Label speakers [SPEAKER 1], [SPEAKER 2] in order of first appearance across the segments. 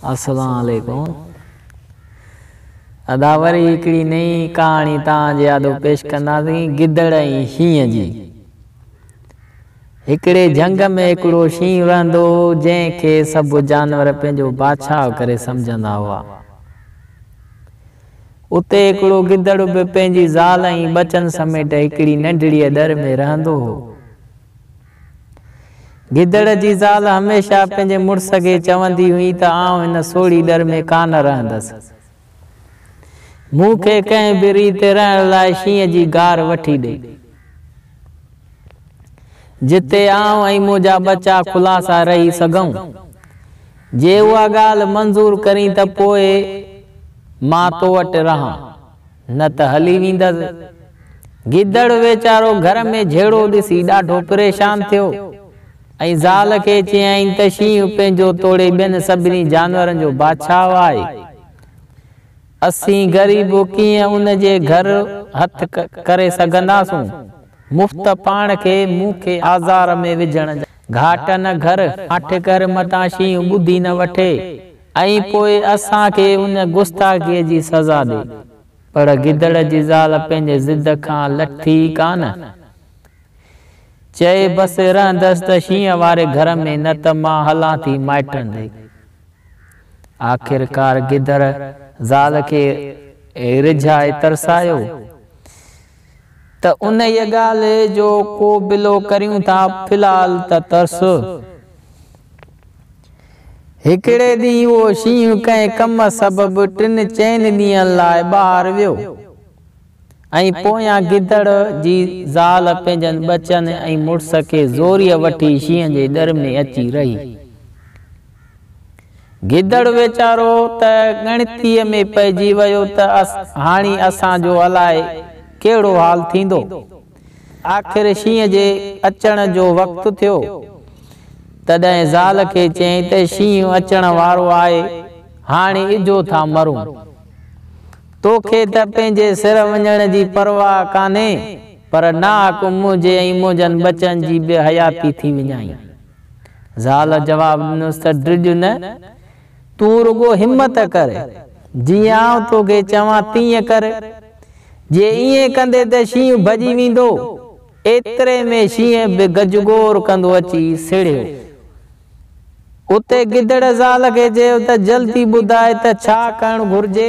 [SPEAKER 1] السلام عليڪم ادا وري هڪڙي نئين ڪهاڻي توهان جي آڏو پيش ڪنداسين گدڙ ۽ شينهن جي هڪڙي جهنگ ۾ هڪڙو شينهن رهندو هو جنهن کي سڀ جانور پنهنجو بادشاهه ڪري سمجهندا هئا اتي هڪڙو گدڙ به پنهنجي زال ۽ ٻچن سميٽ هڪڙي ننڍڙيء در ۾ رهندو هو. گدڙ جي زال هميشه پنهنجي مڙس کي چوندي هئي ته آئون هن سوڙهي در ۾ ڪانه رهندس. مون کي ڪنهن به ريت رهڻ لاء شينهن جي غار وٺي ڏي. جتي آئون ۽ منهنجا ٻچا خلاصا رهي سگهون. جي اها ڳالهه منظور ڪرين ته پوء مان تو وٽ رهان، نه ته هلي ويندس. گدڙ ويچارو گهر ۾ جهيڙو ڏسي ڏاڍو پريشان ٿيو ۽ زال کي چيائين ته شينهن پنهنجو توڙي ٻين سڀني جانورن جو بادشاهه آهي، اسين غريب ڪيئن ان جي گهر هٿ ڪري سگهنداسون؟ مفت پاڻ کي مون کي آزار ۾ وجهڻ جا. گهاٽ نه گهر، هٺ ڪر متان شينهن ٻڌي نه وٺي ۽ پوء اسان کي ان گستاخيء جي سزا ڏي. پر گدڙ جي زال پنهنجي ضد کان لٿي ڪا نه. چئي بس رهندس ته شينهن واري گهر ۾ نه ته مان هلان ٿي مائٽن ڏي. آخرڪار گدڙ زال کي رجهائي ترسايو. ته انهيء ڳالهه جو ڪو بلو ڪريون ٿا، في الحال ته ترس. هڪڙي ڏينهن اهو شينهن ڪنهن ڪم سبب ٽن چئن ڏينهن لاء ٻاهر ويو ۽ پويان گدڙ جي زال پنهنجن ٻچن ۽ مڙس کي زوريء وٺي شينهن جي ڏر ۾ اچي رهي. گدڙ ويچارو ته ڳڻتيء ۾ پئجي ويو ته هاڻي اسان جو الاء ڪهڙو حال ٿيندو. آخر شينهن جي اچڻ جو وقت ٿيو. تڏهن زال کي چيائين ته شينهن اچڻ وارو آهي، هاڻي اجهو ٿا مرون. تو کي ته پنهنجي سر وڃڻ جي پرواهه ڪانهي، پر ناحق منهنجي ۽ منهنجن ٻچن جي به حياتي ٿي وڃائين. زال جواب ڏنس ته ڊڄ نه، تون رڳو همت ڪر، جيئن آئون توکي چوان تيئن ڪر. جي ائين ڪندين ته شينهن ڀڄي ويندو. ايتري ۾ شينهن به گجگوڙ ڪندو اچي سڙهيو. اتي گدڙ زال کي چيو ته جلدي ٻڌاء ته ڇا ڪرڻ گهرجي.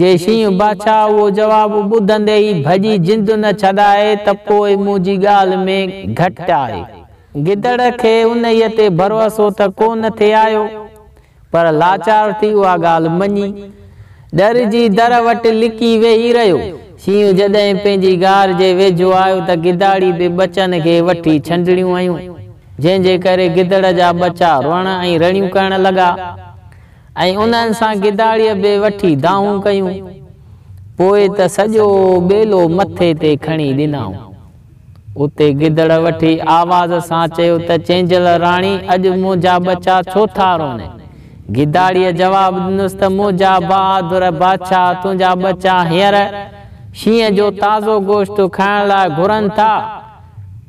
[SPEAKER 1] جي شينهن باچا اهو جواب ٻڌندي ئي ڀڄي جند نه ڇڏائي ته پوء منهنجي ڳالهه ۾ گهٽ آهي. گدڙ کي انهيء تي ڀروسو ته ڪو نه ٿي آيو، پر لاچار ٿي اها ڳالهه مڃي، ڏر جي در وٽ لڪي ويهي رهيو. شينهن جڏهن پنهنجي غار جي ويجهو آيو ته گداڙي به ٻچن کي وٺي ڇنڊڻيون هيون، جنهن جي ڪري گدڙ جا ٻچا روئڻ ۽ رڙيون ڪرڻ لڳا. ۽ انهن سان گداڙيء به وٺي دانهون ڪيون، پوء ته سڄو ٻيلو مٿي تي کڻي ڏنائون. اتي گدڙ وٺي آواز سان چيو ته چينجهل راڻي اڄ منهنجا ٻچا ڇو ٿا رون؟ گداڙيء جواب ڏنس ته منهنجا بهادر بادشاهه تنهنجا ٻچا هينئر شينهن جو تازو گوشت کائڻ لاء گهرن ٿا،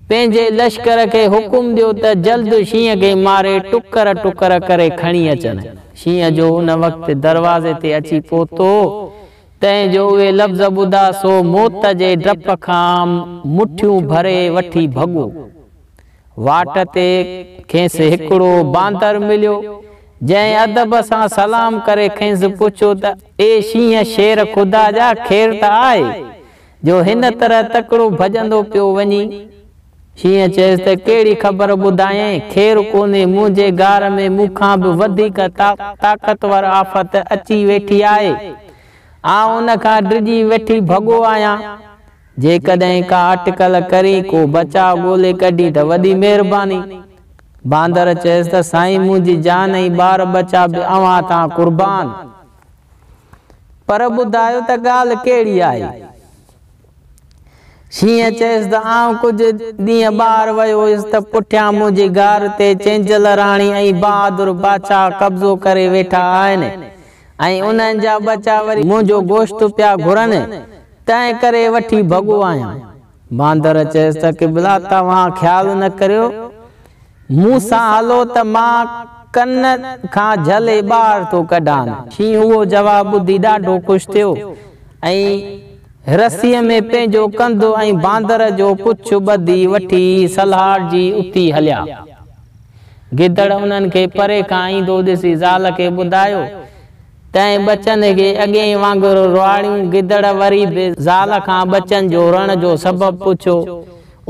[SPEAKER 1] پنهنجي لشڪر کي حڪم ڏيو ته جلد شينهن کي ماري ٽڪر ٽڪر ڪري کڻي اچن. شينهن جو ان وقت دروازي تي اچي پهتو، تنهن جو اهي لفظ ٻڌا سو موت جي ڊپ کان مٺيون ڀري وٺي ڀڳو. واٽ تي کيس هڪڙو باندر مليو، جنهن ادب سان سلام ڪري کيس پڇيو ته اي شينهن شير خدا جا خير ته آهي؟ جو هن طرح تڪڙو ڀڄندو پيو وڃي. شينهن چيس ته ڪهڙي خبر ٻڌايئين، خير ڪونهي، منهنجي غار ۾ مون کان به وڌيڪ طاقتور آفت اچي ويٺي آهي. آئون ان کان ڊڄي ويٺي ڀڳو آهيان. جيڪڏهن ڪا اٽڪل ڪرين، ڪو بچاء ڳولي ڪڍين ته وڏي مهرباني. باندر چيس ته سائين منهنجي جان ۽ ٻار ٻچا به اوهان تان قربان. پر ٻڌايو ته ڳالهه ڪهڙي آهي؟ شينهن چيس ته آئون ڪجهه ڏينهن ٻاهر ويو هيس ته پٺيان منهنجي غار تي چينجل راڻي ۽ بهادر بادشاهه قبضو ڪري ويٺا آهن ۽ انهن جا ٻچا وري منهنجو گوشت پيا گهرن، تنهن ڪري وٺي ڀڳو آهيان. باندر چيس ته قبلا توهان خيال نه ڪريو، مون سان هلو ته مان ڪن کان جهلي ٻاهر ٿو ڪڍان. شينهن اهو جواب ٻڌي ڏاڍو خوش ٿيو ۽ رسيء ۾ پنهنجو ڪنڌ ۽ باندر جو پڇ ٻڌي وٺي سلهاڙجي اتي هليا. گدڙ انهن کي پري کان ايندو ڏسي زال کي ٻڌايو تنهن ٻچن کي اڳين وانگر روئاڙيون گدڙ وري به زال کان ٻچن جو رئڻ جو سبب پڇيو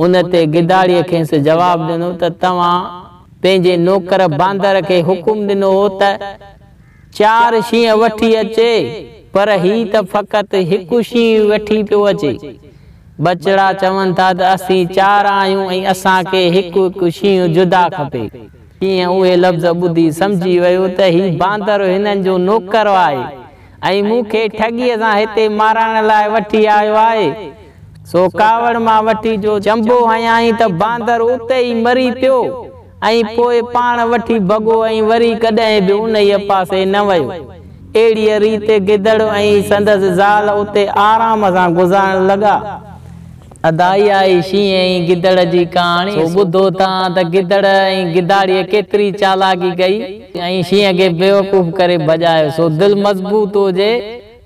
[SPEAKER 1] ان تي گداڙيء کيس جواب ڏنو ته توهان پنهنجي نوڪر باندر کي حڪم ڏنو هو ته چار شينهن وٺي اچي پر هي ته فقط هڪ شينهن وٺي پيو اچي ٻچڙا چون ٿا ته اسين چار آهيون ۽ اسان کي هڪ هڪ شينهن جدا کپي. تيئن اهي لفظ ٻڌي سمجهي ويو ته هي باندر هنن جو نوڪر آهي ۽ مون کي ٺڳيء سان هتي مارائڻ لاء وٺي آيو آهي. سو ڪاوڙ مان وٺي جو چنبو هنيائين ته باندر اتي ئي مري پيو ۽ پوء پاڻ وٺي ڀڳو ۽ وري ڪڏهن به انهيء پاسي نه ويو. اهڙيء ريت گدڙ ۽ سندس زال اتي آرام سان گذارڻ لڳا. ادا اها ئي شينهن ۽ گدڙ جي ڪهاڻي سو ٻڌو تان ته گدڙ ۽ گداڙيء ڪيتري چالاڪي ڪئي ۽ شينهن کي بيوقوف ڪري ڀڄايو سو دل مضبوط هجي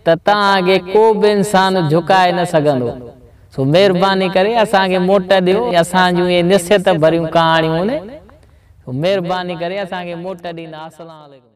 [SPEAKER 1] ته توهان اڳي ڪو به انسان جهڪائي نه سگهندو سو مهرباني ڪري اسان کي موٽ ڏيو اسان جون اهي نصيحت ڀريون ڪهاڻيون سو مهرباني ڪري اسان کي موٽ ڏيندا اسلام عليڪم.